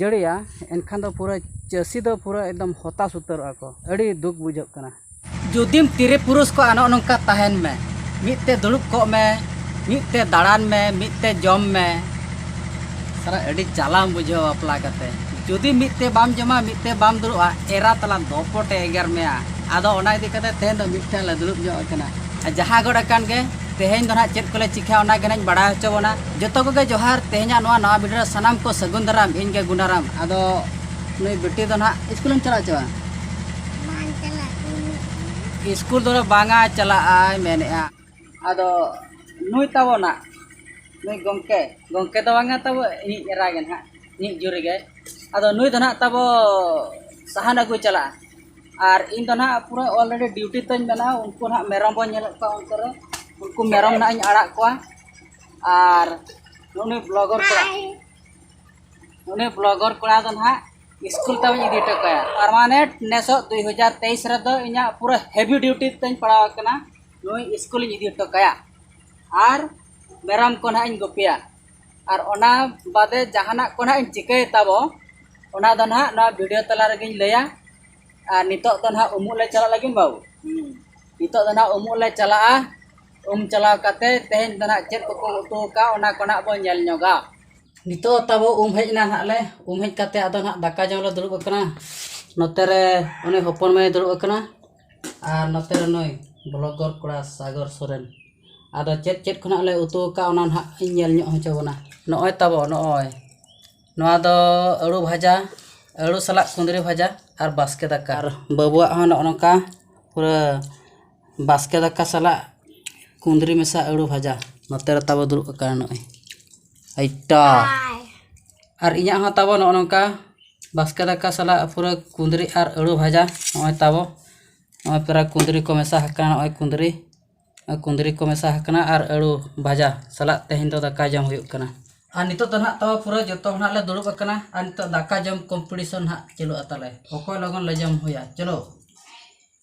ᱡᱟᱹᱲᱤᱭᱟ ᱮᱱᱠᱷᱟᱱ ᱫᱚ ᱯᱩᱨᱟᱹ ᱪᱟᱹᱥᱤ ᱫᱚ ᱯᱩᱨᱟᱹ ᱮᱠᱫᱚᱢ ᱦᱚᱛᱟᱥ ᱩᱛᱟᱹᱨᱚᱜ ᱟᱠᱚ ᱟᱹᱰᱤ ᱫᱩᱠ ᱵᱩᱡᱷᱟᱹᱜ ᱠᱟᱱᱟ ᱡᱩᱫᱤᱢ ᱛᱤᱨᱤ ᱯᱩᱨᱩᱥ ᱠᱚ ᱟᱱᱚᱜ ᱱᱚᱝᱠᱟ ᱛᱟᱦᱮᱱ ᱢᱮ ᱢᱤᱫ ᱛᱮ ᱫᱩᱲᱩᱵ ᱠᱚᱜ ᱢᱮ ᱢᱤᱫ ᱛᱮ ᱫᱟᱬᱟᱱ ᱢᱮ ᱢᱤᱫ ᱛᱮ ᱡᱚᱢ ᱢᱮ ᱥᱟᱨᱟ ᱟᱹᱰᱤ ᱡᱟᱞᱟᱢ ᱵᱩᱡᱷᱟᱹᱣᱟ ᱵᱟᱯᱞᱟ ᱠᱟᱛᱮ ᱡᱩᱫᱤ ᱢᱤᱫ ᱛᱮ ᱵᱟᱢ ᱡᱚᱢᱟ ᱢᱤᱫ ᱛᱮ ᱵᱟᱢ ᱫᱩᱲᱩᱵᱼᱟ ᱮᱨᱟ ᱛᱟᱞᱟᱝ ᱫᱚᱯᱚᱴᱮ ᱮᱜᱮᱨ ᱢᱮᱭᱟ ᱟᱫᱚ ᱚᱱᱟ ᱤᱫᱤ ᱠᱟᱛᱮ ᱛᱮᱦᱮᱧ ᱫᱚ ᱢᱤᱫ ᱴᱷᱮᱱ ᱞᱮ ᱫᱩᱲᱩᱵ ᱧᱚᱜ ᱟᱠᱟᱱᱟ ᱡᱟᱦᱟᱸ ᱜᱚᱫ ᱟᱠᱟᱱ ᱜᱮ ᱛᱮᱦᱮᱧ ᱫᱚ ᱱᱟᱦᱟᱜ ᱪᱮᱫ ᱠᱚᱞᱮ ᱪᱤᱠᱟᱹᱭᱟ ᱚᱱᱟ ᱜᱮ ᱱᱟᱦᱟᱜ ᱤᱧ ᱵᱟᱲᱟᱭ ᱦᱚᱪᱚ ᱵᱚᱱᱟ ᱡᱚᱛᱚ ᱠᱚᱜᱮ ᱡᱚᱦᱟᱨ ᱛᱮᱦᱮᱧᱟᱜ ᱱᱚᱣᱟ ᱱᱟᱣᱟ ᱵᱷᱤᱰᱤᱭᱳ ᱨᱮ ᱥᱟᱱᱟᱢ ᱠᱚ ᱥᱟᱹᱜᱩᱱ ᱫᱟᱨᱟᱢ ᱤᱧ ᱜᱮ ᱜᱩᱱᱟᱨᱟᱢ ᱟᱫᱚ ᱱᱩᱭ ᱵᱤᱴᱤ ᱫᱚ ᱱᱟᱦᱟᱜ ᱥᱠᱩᱞᱮᱢ ᱪᱟᱞᱟᱜ ᱪᱚᱣᱟ ᱥᱠᱩᱞ ᱫᱚ ᱵᱟᱝᱟ ᱪᱟᱞᱟᱜ ᱟᱭ ᱢᱮᱱᱮᱜᱼᱟ ᱟᱫᱚ ᱱᱩᱭ ᱛᱟᱵᱚ ᱱᱟᱜ ᱱᱩᱭ ᱜᱚᱢᱠᱮ ᱜᱚᱢᱠᱮ ᱫᱚ ᱵᱟᱝᱟ ᱛᱟᱵᱚ ᱤᱧᱤᱡ ᱮᱨᱟ ᱜᱮ ᱱᱟᱦᱟᱜ ᱤᱧᱤᱡ ᱡᱩᱨᱤ ᱜᱮ ᱟᱫᱚ ᱱᱩᱭ ᱫᱚ ᱱᱟᱦᱟᱜ ᱛᱟᱵᱚ ᱥᱟᱦᱟᱱ ᱟᱹᱜᱩ ᱪᱟᱞᱟᱜᱼᱟ ᱟᱨ ᱤᱧ ᱫᱚ ᱱᱟᱦᱟᱜ ᱯᱩᱨᱟᱹ ᱚᱞᱨᱮᱰᱤ ᱰᱤᱭᱩᱴᱤ ᱛᱤᱧ ᱢᱮᱱᱟᱜᱼᱟ ᱩᱱᱠᱩ ᱱᱟᱦᱟᱜ ᱢᱮᱨᱚᱢ ᱵᱚᱱ ᱧᱮᱞᱮᱫ ᱠᱚᱣᱟ ᱚᱱᱛᱮ ᱨᱮ ᱩᱱᱠᱩ ᱢᱮᱨᱚᱢ ᱱᱟᱦᱟᱜ ᱤᱧ ᱟᱲᱟᱜ ᱠᱚᱣᱟ ᱟᱨ ᱩᱱᱤ ᱵᱞᱚᱜᱚᱨ ᱠᱚᱲᱟ ᱩᱱᱤ ᱵᱞᱚᱜᱚᱨ ᱠᱚᱲᱟ ᱫᱚ ᱱᱟᱦᱟᱜ ᱥᱠᱩᱞ ᱛᱟᱹᱧ ᱤᱫᱤ ᱦᱚᱴᱚ ᱠᱟᱭᱟ ᱯᱟᱨᱢᱟᱱᱮᱱᱴ ᱱᱮᱥᱚᱜ ᱫᱩᱭ ᱦᱟᱡᱟᱨ ᱛᱮᱭᱤᱥ ᱨᱮᱫᱚ ᱤᱧᱟᱹᱜ ᱯᱩᱨᱟᱹ ᱦᱮᱵᱷᱤ ᱰᱤᱭᱩᱴᱤ ᱛᱤᱧ ᱯᱟᱲᱟᱣ ᱟᱠᱟᱱᱟ ᱱᱩᱭ ᱥᱠᱩᱞᱤᱧ ᱤᱫᱤ ᱦᱚᱴᱚ ᱠᱟᱭᱟ ᱟᱨ ᱢᱮᱨᱚᱢ ᱠᱚ ᱱᱟᱦᱟᱜ ᱤᱧ ᱜᱩᱯᱤᱭᱟ ᱟᱨ ᱚᱱᱟ ᱵᱟᱫᱮ ᱡᱟᱦᱟᱱᱟᱜ ᱠᱚ ᱱᱟᱦᱟᱜ ᱤᱧ ᱪᱤᱠᱟᱹᱭ ᱛᱟᱵᱚ ᱚᱱᱟ ᱫᱚ ᱱᱟᱦᱟᱜ ᱱᱚᱣᱟ ᱵᱷᱤᱰᱤᱭᱳ ᱛᱟᱞᱟ ᱨᱮᱜᱮᱧ ᱞᱟᱹᱭᱟ ᱟᱨ ᱱᱤᱛᱚᱜ ᱫᱚ ᱱᱟᱦᱟᱜ ᱩᱢᱩᱜ ᱞᱮ ᱪᱟᱞᱟᱜ ᱞᱟᱹᱜᱤᱫ ᱵᱟᱹᱵᱩ ᱱᱤᱛᱚᱜ ᱫᱚ ᱱᱟᱦᱟᱜ ᱩᱢᱩᱜ ᱞᱮ ᱪᱟᱞᱟᱜᱼᱟ ᱩᱢ ᱪᱟᱞᱟᱣ ᱠᱟᱛᱮ ᱛᱮᱦᱮᱧ ᱫᱚ ᱱᱟᱦᱟᱜ ᱪᱮᱫ ᱠᱚᱠᱚ ᱩᱛᱩ ᱟᱠᱟᱫᱼᱟ ᱚᱱᱟ ᱠᱚ ᱱᱟᱦᱟᱜ ᱵᱚᱱ ᱧᱮᱞ ᱧᱚᱜᱟ ᱱᱤᱛᱳᱜ ᱛᱟᱵᱚ ᱩᱢ ᱦᱮᱡ ᱮᱱᱟ ᱱᱟᱦᱟᱜ ᱞᱮ ᱩᱢ ᱦᱮᱡ ᱠᱟᱛᱮ ᱟᱫᱚ ᱱᱟᱦᱟᱜ ᱫᱟᱠᱟ ᱡᱚᱢ ᱞᱮ ᱫᱩᱲᱩᱵ ᱟᱠᱟᱱᱟ ᱱᱚᱛᱮ ᱨᱮ ᱩᱱᱤ ᱦᱚᱯᱚᱱ ᱢᱟᱹᱭᱮ ᱫᱩᱲᱩᱵ ᱟᱠᱟᱱᱟ ᱟᱨ ᱱᱚᱛᱮ ᱨᱮ ᱱᱩᱭ ᱵᱞᱚᱜᱚᱨ ᱠᱚᱲᱟ ᱥᱟᱜᱚᱨ ᱥᱚᱨᱮᱱ ᱟᱫᱚ ᱪᱮᱫ ᱪᱮᱫ ᱠᱚ ᱱᱟᱦᱟᱜ ᱞᱮ ᱩᱛᱩ ᱟᱠᱟᱫᱼᱟ ᱚᱱᱟ ᱱᱟᱦᱟᱜ ᱤᱧ ᱧᱮᱞ ᱧᱚᱜ ᱦᱚᱪᱚ ᱵᱚᱱᱟ ᱱᱚᱜᱼᱚᱭ ᱛᱟᱵᱚ ᱱᱚᱜᱼᱚᱭ ᱱᱚᱣᱟ ᱫᱚ ᱟᱹᱞᱩ ᱵᱷᱟᱡᱟ ᱟᱹᱞᱩ ᱥᱟᱞᱟᱜ ᱠᱩᱸᱫᱽᱨᱤ ᱵᱷᱟᱡᱟ ᱟᱨ ᱵᱟᱥᱠᱮ ᱫᱟᱠᱟ ᱟᱨ ᱵᱟᱹᱵᱩᱣᱟᱜ ᱦᱚᱸ ᱱᱚᱜᱼᱚ ᱱᱚᱝᱠᱟ ᱯᱩᱨᱟᱹ ᱵᱟᱥᱠᱮ ᱫᱟᱠᱟ ᱥᱟᱞᱟᱜ ᱠᱩᱸᱫᱽᱨᱤ ᱢᱮᱥᱟ ᱟᱹᱞᱩ ᱵᱷᱟᱡᱟ ᱱᱚᱛᱮ ᱨᱮ ᱛᱟᱵᱚ ᱫᱩᱲᱩᱵ ᱟᱠᱟᱱᱟ ᱱᱚᱜᱼᱚᱭ ᱟᱭᱴᱟ ᱟᱨ ᱤᱧᱟᱹᱜ ᱦᱚᱸ ᱛᱟᱵᱚ ᱱᱚᱜᱼᱚ ᱱᱚᱝᱠᱟ ᱵᱟᱥᱠᱮ ᱫᱟᱠᱟ ᱥᱟᱞᱟᱜ ᱯᱩᱨᱟᱹ ᱠᱩᱸᱫᱽᱨᱤ ᱟᱨ ᱟᱹᱞᱩ ᱵᱷᱟᱡᱟ ᱱᱚᱜᱼᱚᱭ ᱛᱟᱵᱚ ᱱᱚᱜᱼᱚᱭ ᱯᱩᱨᱟᱹ ᱠᱩᱸᱫᱽᱨᱤ ᱠᱚ ᱢᱮᱥᱟ ᱟᱠᱟᱱᱟ ᱱᱚᱜᱼᱚᱭ ᱠᱩᱸᱫᱽᱨᱤ ᱠᱩᱸᱫᱽᱨᱤ ᱠᱚ ᱢᱮᱥᱟ ᱟᱠᱟᱱᱟ ᱟᱨ ᱟᱹᱞᱩ ᱵᱷᱟᱡᱟ ᱥᱟᱞᱟᱜ ᱛᱮᱦᱮᱧ ᱫᱚ ᱫᱟᱠᱟ ᱡᱚᱢ ᱦᱩᱭᱩᱜ ᱠᱟᱱᱟ ᱟᱨ ᱱᱤᱛᱚᱜ ᱫᱚ ᱱᱟᱦᱟᱜ ᱛᱟᱵᱚ ᱯᱩᱨᱟᱹ ᱡᱚᱛᱚ ᱦᱚᱲ ᱱᱟᱦᱟᱜ ᱞᱮ ᱫᱩᱲᱩᱵ ᱟᱠᱟᱱᱟ ᱟᱨ ᱱᱤᱛᱚᱜ ᱫᱟᱠᱟ ᱡᱚᱢ ᱠᱚᱢᱯᱤᱴᱤᱥᱚᱱ ᱱᱟᱦᱟᱜ ᱪᱟᱹᱞᱩᱜᱼᱟ ᱛᱟᱞᱮ ᱚᱠᱚᱭ ᱞᱚᱜᱚᱱ ᱞᱮ ᱡᱚᱢ ᱦᱩᱭᱟ ᱪᱚᱞᱚ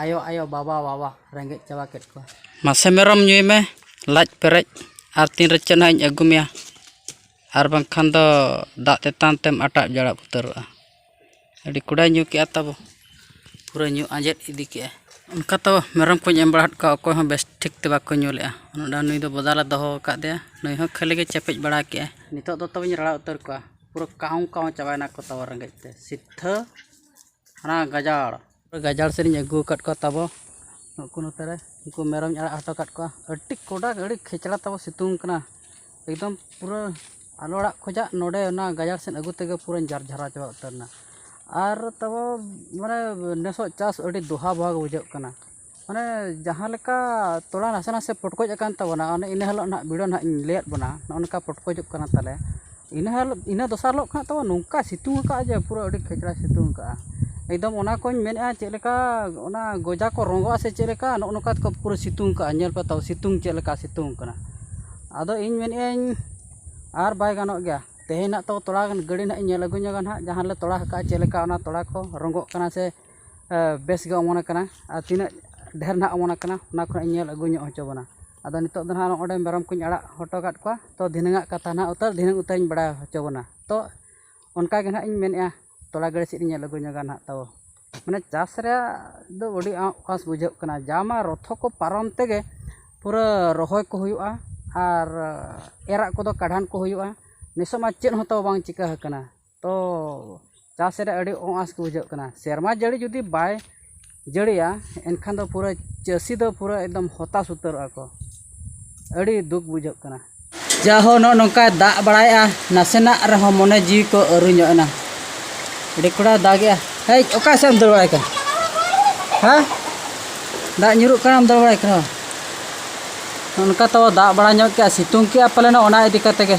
ᱟᱭᱳ ᱟᱭᱳ ᱵᱟᱵᱟ ᱵᱟᱵᱟ ᱨᱮᱸᱜᱮᱡ ᱪᱟᱵᱟ ᱠᱮᱫ ᱠᱚᱣᱟ ᱢᱟᱥᱮ ᱢᱮᱨᱚᱢ ᱧᱩᱭ ᱢᱮ ᱞᱟᱡ ᱯᱮᱨᱮᱡ ᱟᱨ ᱛᱤᱱ ᱨᱮ ᱪᱮᱫ ᱦᱟᱸᱜ ᱤᱧ ᱟᱹᱜᱩ ᱢᱮᱭᱟ ᱟᱨ ᱵᱟᱝᱠᱷᱟᱱ ᱫᱚ ᱫᱟᱜ ᱛᱮᱛᱟᱝ ᱛᱮᱢ ᱟᱴᱟᱫ ᱡᱟᱲᱟᱫ ᱩᱛᱟᱹᱨᱚᱜᱼᱟ ᱟᱹᱰᱤ ᱠᱚᱰᱟᱭ ᱧᱩ ᱠᱮᱫᱼᱟ ᱛᱟᱵᱚ ᱯᱩᱨᱟᱹ ᱧᱩ ᱟᱸᱡᱮᱫ ᱤᱫᱤ ᱠᱮᱫᱼᱟᱭ ᱚᱱᱠᱟ ᱛᱚ ᱢᱮᱨᱚᱢ ᱠᱚᱧ ᱮᱢ ᱵᱟᱲᱟ ᱟᱫ ᱠᱚᱣᱟ ᱚᱠᱚᱭ ᱦᱚᱸ ᱵᱮᱥ ᱴᱷᱤᱠ ᱛᱮ ᱵᱟᱠᱚ ᱧᱩ ᱞᱮᱫᱼᱟ ᱚᱱᱟ ᱱᱩᱭ ᱫᱚ ᱵᱚᱫᱟ ᱞᱮ ᱫᱚᱦᱚ ᱟᱠᱟᱫᱮᱭᱟ ᱱᱩᱭ ᱦᱚᱸ ᱠᱷᱟᱹᱞᱤ ᱜᱮ ᱪᱮᱯᱮᱡ ᱵᱟᱲᱟ ᱠᱮᱫᱼᱟᱭ ᱱᱤᱛᱚᱜ ᱫᱚ ᱛᱚᱵᱮᱧ ᱨᱟᱲᱟ ᱩᱛᱟᱹᱨ ᱠᱚᱣᱟ ᱯᱩᱨᱟᱹ ᱠᱟᱦᱩᱸ ᱠᱟᱦᱩᱸ ᱪᱟᱵᱟᱭᱮᱱᱟ ᱠᱚ ᱛᱟᱵᱚ ᱨᱮᱸᱜᱮᱡ ᱛᱮ ᱥᱤᱫᱷᱟᱹ ᱦᱟᱱᱟ ᱜᱟᱡᱟᱲ ᱜᱟᱡᱟᱲ ᱥᱮᱫ ᱤᱧ ᱟᱹᱜᱩ ᱟᱠᱟᱫ ᱠᱚᱣᱟ ᱛᱟᱵᱚ ᱱᱩᱠᱩ ᱱᱚᱛᱮ ᱨᱮ ᱩᱱᱠᱩ ᱢᱮᱨᱚᱢᱤᱧ ᱟᱲᱟᱜ ᱦᱚᱴᱚ ᱟᱠᱟᱫ ᱠᱚᱣᱟ ᱟᱹᱰᱤ ᱠᱚᱰᱟ ᱟᱹᱰᱤ ᱠᱷᱮᱪᱲᱟ ᱛᱟᱵᱚ ᱥᱤᱛᱩᱝ ᱠᱟᱱᱟ ᱮᱠᱫᱚᱢ ᱯᱩᱨᱟᱹ ᱟᱞᱚ ᱚᱲᱟᱜ ᱠᱷᱚᱱᱟᱜ ᱱᱚᱰᱮ ᱚᱱᱟ ᱜᱟᱡᱟᱲ ᱥᱮᱫ ᱟᱹᱜᱩ ᱛᱮᱜᱮ ᱯᱩᱨᱟᱹᱧ ᱡᱟᱨ ᱡᱷᱟᱨᱟᱣ ᱪᱟᱵᱟ ᱩᱛᱟᱹᱨ ᱮᱱᱟ ᱟᱨ ᱛᱟᱵᱚ ᱢᱟᱱᱮ ᱱᱮᱥᱟᱜ ᱪᱟᱥ ᱟᱹᱰᱤ ᱫᱚᱦᱟ ᱵᱚᱦᱟ ᱜᱮ ᱵᱩᱡᱷᱟᱹᱜ ᱠᱟᱱᱟ ᱢᱟᱱᱮ ᱡᱟᱦᱟᱸ ᱞᱮᱠᱟ ᱛᱚᱞᱟ ᱱᱟᱥᱮ ᱱᱟᱥᱮ ᱯᱚᱴᱠᱚᱡ ᱟᱠᱟᱱ ᱛᱟᱵᱚᱱᱟ ᱚᱱᱮ ᱤᱱᱟᱹ ᱦᱤᱞᱳᱜ ᱱᱟᱦᱟᱜ ᱵᱷᱤᱰᱤᱭᱳ ᱱᱟᱦᱟᱜ ᱤᱧ ᱞᱟᱹᱭᱟᱫ ᱵᱚᱱᱟ ᱱᱚᱜᱼᱚ ᱱᱚᱝᱠᱟ ᱯᱚᱴᱠᱚᱡᱚᱜ ᱠᱟᱱᱟ ᱛᱟᱞᱮ ᱤᱱᱟᱹ ᱦᱤᱞᱳᱜ ᱤᱱᱟᱹ ᱫᱚᱥᱟᱨ ᱦᱤᱞᱳᱜ ᱠᱷᱚᱱᱟᱜ ᱛᱚ ᱱᱚᱝᱠᱟᱭ ᱥᱤᱛᱩᱝ ᱟᱠᱟᱫᱼᱟ ᱡᱮ ᱯᱩᱨᱟᱹ ᱟᱹᱰᱤ ᱠᱷᱮᱪᱲᱟᱭ ᱥᱤᱛᱩᱝ ᱟᱠᱟᱫᱼᱟ ᱮᱠᱫᱚᱢ ᱚᱱᱟ ᱠᱚᱧ ᱢᱮᱱᱮᱫᱼᱟ ᱪᱮᱫ ᱞᱮᱠᱟ ᱚᱱᱟ ᱜᱚᱡᱟ ᱠᱚ ᱨᱚᱸᱜᱚᱜ ᱟᱥᱮ ᱪᱮᱫ ᱞᱮᱠᱟ ᱱᱚᱜᱼᱚ ᱱᱚᱝᱠᱟ ᱛᱮᱠᱚ ᱯᱩᱨᱟᱹ ᱥᱤᱛᱩᱝ ᱟᱠᱟᱫᱼᱟ ᱧᱮᱞ ᱯᱮ ᱛᱟᱵᱚᱱ ᱥᱤᱛᱩᱝ ᱪᱮᱫ ᱞᱮᱠᱟ ᱥᱤᱛᱩᱝ ᱟᱠᱟᱱᱟ ᱟᱫᱚ ᱤᱧ ᱢᱮᱱᱮᱫ ᱟᱹᱧ ᱟᱨ ᱵᱟᱭ ᱜᱟᱱᱚᱜ ᱜᱮᱭᱟ ᱛᱮᱦᱮᱧ ᱱᱟᱦᱟᱜ ᱛᱚ ᱛᱚᱞᱟ ᱜᱟᱹᱰᱤ ᱱᱟᱦᱟᱜ ᱤᱧ ᱧᱮᱞ ᱟᱹᱜᱩ ᱧᱚᱜᱟ ᱱᱟᱦᱟᱜ ᱡᱟᱦᱟᱸ ᱨᱮᱞᱮ ᱛᱚᱞᱟ ᱟᱠᱟᱫᱼᱟ ᱪᱮᱫ ᱞᱮᱠᱟ ᱚᱱᱟ ᱛᱚᱞᱟ ᱠᱚ ᱨᱚᱸᱜᱚᱜ ᱠᱟᱱᱟ ᱥᱮ ᱵᱮᱥ ᱜᱮ ᱚᱢᱚᱱ ᱟᱠᱟᱱᱟ ᱟᱨ ᱛᱤᱱᱟᱹᱜ ᱰᱷᱮᱨ ᱱᱟᱦᱟᱜ ᱚᱢᱚᱱ ᱟᱠᱟᱱᱟ ᱚᱱᱟ ᱠᱷᱚᱱᱟᱜ ᱤᱧ ᱧᱮᱞ ᱟᱹᱜᱩ ᱧᱚᱜ ᱦᱚᱪᱚ ᱵᱚᱱᱟ ᱟᱫᱚ ᱱᱤᱛᱚᱜ ᱫᱚ ᱱᱟᱦᱟᱜ ᱱᱚᱸᱰᱮ ᱢᱮᱨᱚᱢ ᱠᱚᱧ ᱟᱲᱟᱜ ᱦᱚᱴᱚ ᱟᱠᱟᱫ ᱠᱚᱣᱟ ᱛᱚ ᱫᱷᱤᱱᱟᱹᱝ ᱟᱜ ᱠᱟᱛᱷᱟ ᱱᱟᱦᱟᱜ ᱩᱛᱟᱹᱨ ᱫᱷᱤᱱᱟᱹᱝ ᱩᱛᱟᱹᱨ ᱤᱧ ᱵᱟᱲᱟᱭ ᱦᱚᱪᱚ ᱵᱚᱱᱟ ᱛᱚ ᱚᱱᱠᱟ ᱜᱮ ᱱᱟᱦᱟᱜ ᱤᱧ ᱢᱮᱱᱮᱫᱼᱟ ᱛᱚᱞᱟ ᱜᱟᱹᱲᱭᱟᱹ ᱥᱮᱫ ᱤᱧ ᱧᱮᱞ ᱟᱹᱜᱩ ᱧᱚᱜᱟ ᱱᱟᱦᱟᱜ ᱛᱟᱵᱚ ᱢᱟᱱᱮ ᱪᱟᱥ ᱨᱮᱭᱟᱜ ᱫᱚ ᱟᱹᱰᱤ ᱟᱸᱴ ᱟᱸᱥ ᱵᱩᱡᱷᱟᱹᱜ ᱠᱟᱱᱟ ᱡᱟ ᱢᱟ ᱨᱚᱛᱷᱚ ᱠᱚ ᱯᱟᱨᱚᱢ ᱛᱮᱜᱮ ᱯᱩᱨᱟᱹ ᱨᱚᱦᱚᱭ ᱠᱚ ᱦᱩᱭᱩᱜᱼᱟ ᱟᱨ ᱮᱨᱟᱜ ᱠᱚᱫᱚ ᱠᱟᱬᱦᱟᱱ ᱠᱚ ᱦᱩᱭᱩᱜᱼᱟ ᱱᱤᱥᱚᱜ ᱢᱟ ᱪᱮᱫ ᱦᱚᱸ ᱛᱟᱵᱚ ᱵᱟᱝ ᱪᱤᱠᱟᱹ ᱟᱠᱟᱱᱟ ᱛᱚ ᱪᱟᱥ ᱨᱮ ᱟᱹᱰᱤ ᱚᱼᱟᱸᱥ ᱜᱮ ᱵᱩᱡᱷᱟᱹᱜ ᱠᱟᱱᱟ ᱥᱮᱨᱢᱟ ᱡᱟᱹᱲᱤ ᱡᱩᱫᱤ ᱵᱟᱭ ᱡᱟᱹᱲᱤᱭᱟ ᱮᱱᱠᱷᱟᱱ ᱫᱚ ᱯᱩᱨᱟᱹ ᱪᱟᱹᱥᱤ ᱫᱚ ᱯᱩᱨᱟᱹ ᱮᱠᱫᱚᱢ ᱦᱚᱛᱟᱥ ᱩᱛᱟᱹᱨᱚᱜᱼᱟ ᱠᱚ ᱟᱹᱰᱤ ᱫᱩᱠ ᱵᱩᱡᱷᱟᱹᱜ ᱠᱟᱱᱟ ᱡᱟᱦᱳ ᱱᱚᱜᱼᱚ ᱱᱚᱝᱠᱟᱭ ᱫᱟᱜ ᱵᱟᱲᱟᱭᱮᱫᱼᱟ ᱱᱟᱥᱮᱱᱟᱜ ᱨᱮᱦᱚᱸ ᱢᱚᱱᱮ ᱡᱤᱣᱤ ᱠᱚ ᱟᱹᱨᱩ ᱧᱚᱜ ᱮᱱᱟ ᱟᱹᱰᱤ ᱠᱚᱲᱟ ᱫᱟᱜᱮᱜᱼᱟ ᱦᱮᱡ ᱚᱠᱟ ᱥᱮᱫ ᱮᱢ ᱫᱟᱹᱲ ᱵᱟᱲᱟᱭ ᱠᱟᱱᱟ ᱦᱮᱸ ᱫᱟᱜ ᱧᱩᱨᱩᱜ ᱠᱟᱱᱟᱢ ᱫᱟᱹᱲ ᱵᱟᱲᱟᱭ ᱠᱟᱱᱟ ᱚᱱᱠᱟ ᱛᱚ ᱫᱟᱜ ᱵᱟᱲᱟ ᱧᱚᱜ ᱠᱮᱜᱼᱟ ᱥᱤᱛᱩᱝ ᱠᱮᱜᱼᱟ ᱯᱟᱞᱮᱱ ᱚᱱᱟ ᱤᱫᱤ ᱠᱟᱛᱮᱫ ᱜᱮ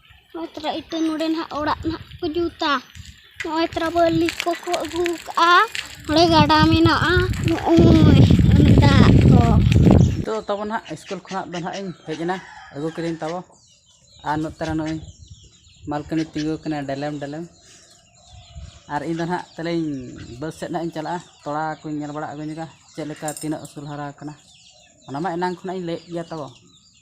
ᱱᱚᱜᱼᱚᱭ ᱛᱚᱨᱟ ᱤᱛᱟᱹ ᱱᱚᱰᱮ ᱱᱟᱜ ᱚᱲᱟᱜ ᱱᱟᱜ ᱠᱚ ᱡᱩᱛᱟ ᱱᱚᱜᱼᱚᱭ ᱛᱚᱨᱟ ᱵᱟᱹᱞᱤ ᱠᱚᱠᱚ ᱟᱹᱜᱩ ᱠᱟᱜᱼᱟ ᱱᱚᱰᱮ ᱜᱟᱰᱟ ᱢᱮᱱᱟᱜᱼᱟ ᱱᱚᱜᱼᱚᱭ ᱚᱱᱮ ᱫᱟᱜ ᱠᱚ ᱱᱤᱛᱚᱜ ᱛᱟᱵᱚ ᱱᱟᱦᱟᱜ ᱥᱠᱩᱞ ᱠᱷᱚᱱᱟᱜ ᱫᱚ ᱱᱟᱦᱟᱜ ᱤᱧ ᱦᱮᱡ ᱮᱱᱟ ᱟᱹᱜᱩ ᱠᱤᱫᱟᱹᱧ ᱛᱟᱵᱚ ᱟᱨ ᱱᱚᱛᱮ ᱨᱮ ᱱᱚᱜᱼᱚᱭ ᱢᱟᱞᱠᱤᱱᱤ ᱛᱤᱸᱜᱩ ᱠᱟᱱᱟ ᱰᱮᱞᱮᱢ ᱰᱮᱞᱮᱢ ᱟᱨ ᱤᱧ ᱫᱚ ᱱᱟᱦᱟᱜ ᱛᱟᱦᱞᱮᱧ ᱵᱟᱹᱫᱽ ᱥᱮᱫ ᱱᱟᱦᱟᱜ ᱤᱧ ᱪᱟᱞᱟᱜᱼᱟ ᱛᱚᱲᱟ ᱠᱚᱧ ᱧᱮᱞ ᱵᱟᱲᱟ ᱟᱹᱜᱩ ᱧᱚᱜᱟ ᱪᱮᱫ ᱞᱮᱠᱟ ᱛᱤᱱᱟᱹᱜ ᱩᱥᱩᱞ ᱦᱟᱨᱟ ᱟᱠᱟᱱᱟ ᱚᱱᱟ ᱢᱟ ᱮᱱᱟᱝ ᱠᱷᱚᱱᱟᱜ ᱤᱧ ᱞᱟᱹᱭᱮᱫ ᱜᱮᱭᱟ ᱛᱟᱵᱚ